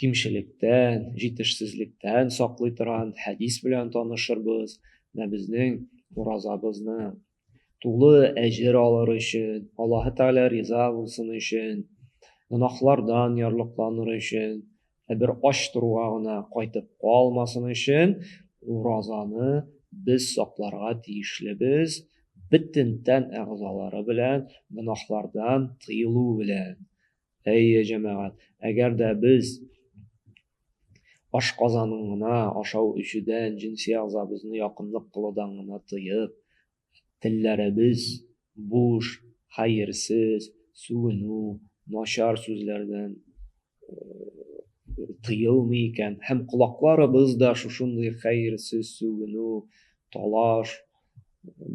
кимчелектән, җитешсезлектән саклый торган хәдис белән танышырбыз. Менә безнең уразабызны тулы әҗер алыр өчен, Аллаһы Тәгалә риза булсын өчен, гөнаһлардан ярлыкланыр өчен, ә бер ач торуга гына кайтып калмасын өчен уразаны без сакларга тиешлебез, бөтен тән әгъзалары белән, гөнаһлардан тыелу белән. Әйе, җәмәгать, әгәр дә без ашказанын гына ашау-эчүдән, җенси әгъзабызны якынлык кылудан гына тыеп, телләребез буш, хәерсез, сүгенү, начар сүзләрдән тыелмый икән һәм колакларыбыз да шушындый хәерсез сүгенү, талаш,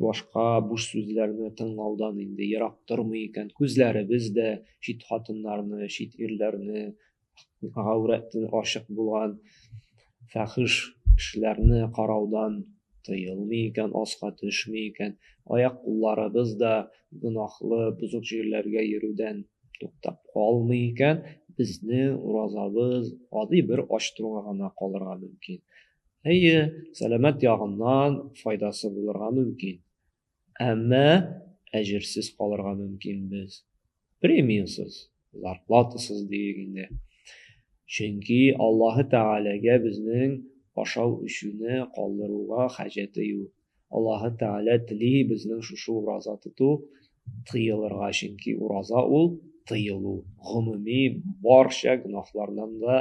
башка буш сүзләрне тыңлаудан инде ерак тормый икән. Күзләребез дә чит хатыннарны, чит ирләрне, гаурәтен ашык булган фәхиш кешеләрне караудан тыелмый икән, аска төшми икән. Аяк кулларыбыз да гөнаһлы, бозык җирләргә йөрүдән туктап калмый икән, безнең уразабыз гади бер ачтыруга гына калырга мөмкин. Әйе, сәламәт ягыннан файдасы булырга мөмкин. Әмма әҗерсез калырга мөмкин без. Премиясыз, зарплатасыз диик инде. Чөнки Аллаһы Тәгаләгә безнең ашау өчүне калдыруга хаҗәте юк. Аллаһы Тәгалә тели безнең шушы ураза тоту тыелырга, чөнки ураза ул тыелу, гомуми барча гөнаһлардан да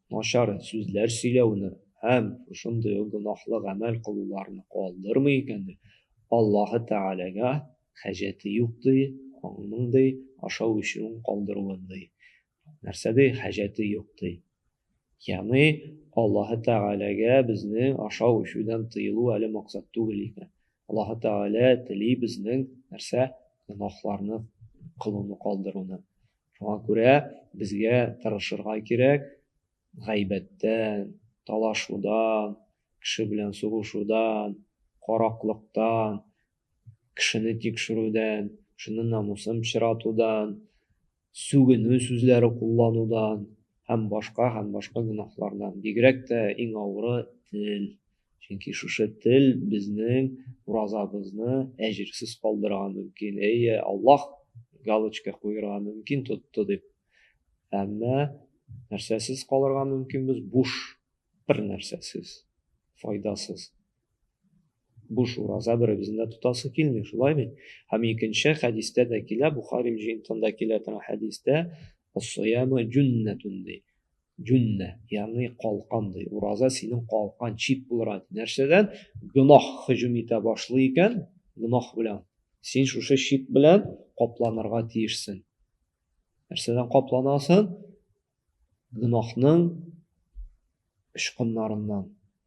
Начар сүзләр сөйләүне һәм шундый ук гөнаһлы гамәл кылуларны калдырмый икән, ди, Аллаһы Тәгаләгә хаҗәте юк, ди, аның, ди, ашау-эчүен калдыруын, ди. Нәрсә, ди, хаҗәте юк, ди. Ягъни, Аллаһы Тәгаләгә безнең ашау-эчүдән тыелу әле максат түгел икән. Аллаһы Тәгалә тели безнең нәрсә? Гөнаһларны кылуны калдыруны. Шуңа күрә безгә тырышырга кирәк, гайбәттән, талашудан, кеше белән сугышудан, караклыктан, кешене тикшерүдән, кешенең намусын пычратудан, сүгенү сүзләре кулланудан һәм башка һәм башка гөнаһлардан. Бигрәк тә иң авыры тел. Чөнки шушы тел безнең уразабызны әҗерсез калдырырга мөмкин. Әйе, Аллаһ галочка куерга мөмкин тотты дип. Әмма нәрсәсез калырга мөмкин без буш, бер нәрсәсез, файдасыз. Буш ураза беребезне дә тотасы килми, шулай бит. Һәм икенче хәдистә дә килә, Бухари җыентында килә торган хәдистә, "Ас-сияму җуннатун" ди. Җүннә, ягъни калкан ди. Ураза синең калкан чит булыр ант. Нәрсәдән? Гөнаһ һөҗүм итә башлый икән, гөнаһ белән. Син шушы чит белән капланырга тиешсең. Нәрсәдән капланасың? Гөнаһның очкыннарыннан.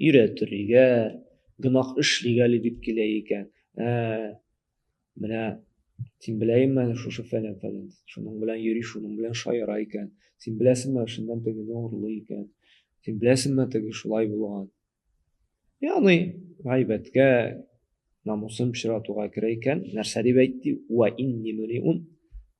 Өйрәтер игәр, гөнаһ эшлик әле дип килә икән. Ә, менә син беләйме әле шушы фәлән фәлән. Шуның белән йөри, шуның белән шаяра икән. Син беләсеңме, шуннан тегене урлый икән. Син беләсеңме, теге шулай булган. Яны гайбәткә, намусын пычратуга керә икән. Нәрсә дип әйтте? Ва инни мөриун.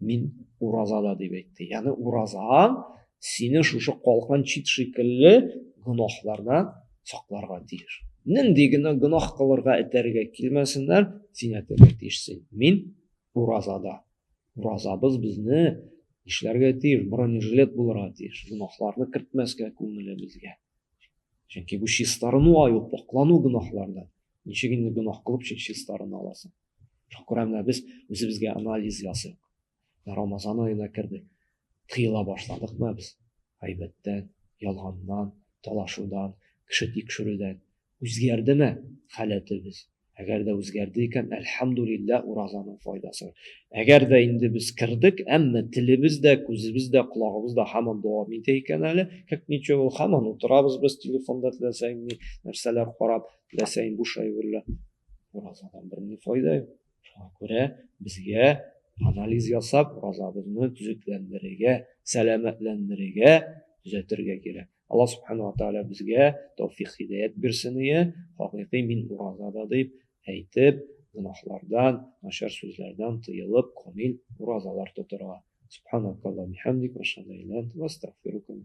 Мин уразада дип әйтте. Яны уразаң сине шушы калкан чит шикелле гөнаһлардан сакларга тиеш. Нинди генә гөнаһ кылырга этәргә килмәсеннәр, син әйтергә тиешсең. Мин уразада. Уразабыз безне нишләргә тиеш? Бронежилет булырга тиеш. Гөнаһларны кертмәскә күңелебезгә. Чөнки бу чистарыну аю, поклану гөнаһлардан. Ничек инде гөнаһ кылып чистарына аласың? шул күрә менә без үзебезгә анализ ясыйк рамазан аена кердек тыела башладыкмы без гайбәттән ялганнан талашудан кеше тикшерүдән үзгәрдеме халәтебез әгәр дә үзгәрде икән әлхәмдулилла уразаның файдасы әгәр дә инде без кердек әмма телебез дә күзебез дә колагыбыз да һаман дәвам итә икән әле как ничего һаман утырабыз без телефонда теләсә нәрсәләр карап теләсә буш әйберләр Уразадан берни файда юк. Шуңа күрә безгә анализ ясап, уразабызны төзекләндерергә, сәламәтләндерергә, төзәтергә кирәк. Алла субхана ва тааля безгә тәүфик хидәят бирсен ие, хакыйкый мин уразада дип әйтеп, гөнаһлардан, начар сүзләрдән тыелып, камил уразалар тотырга. Субханакалла бихамдик, ва шадайлан, ва астагфирука ва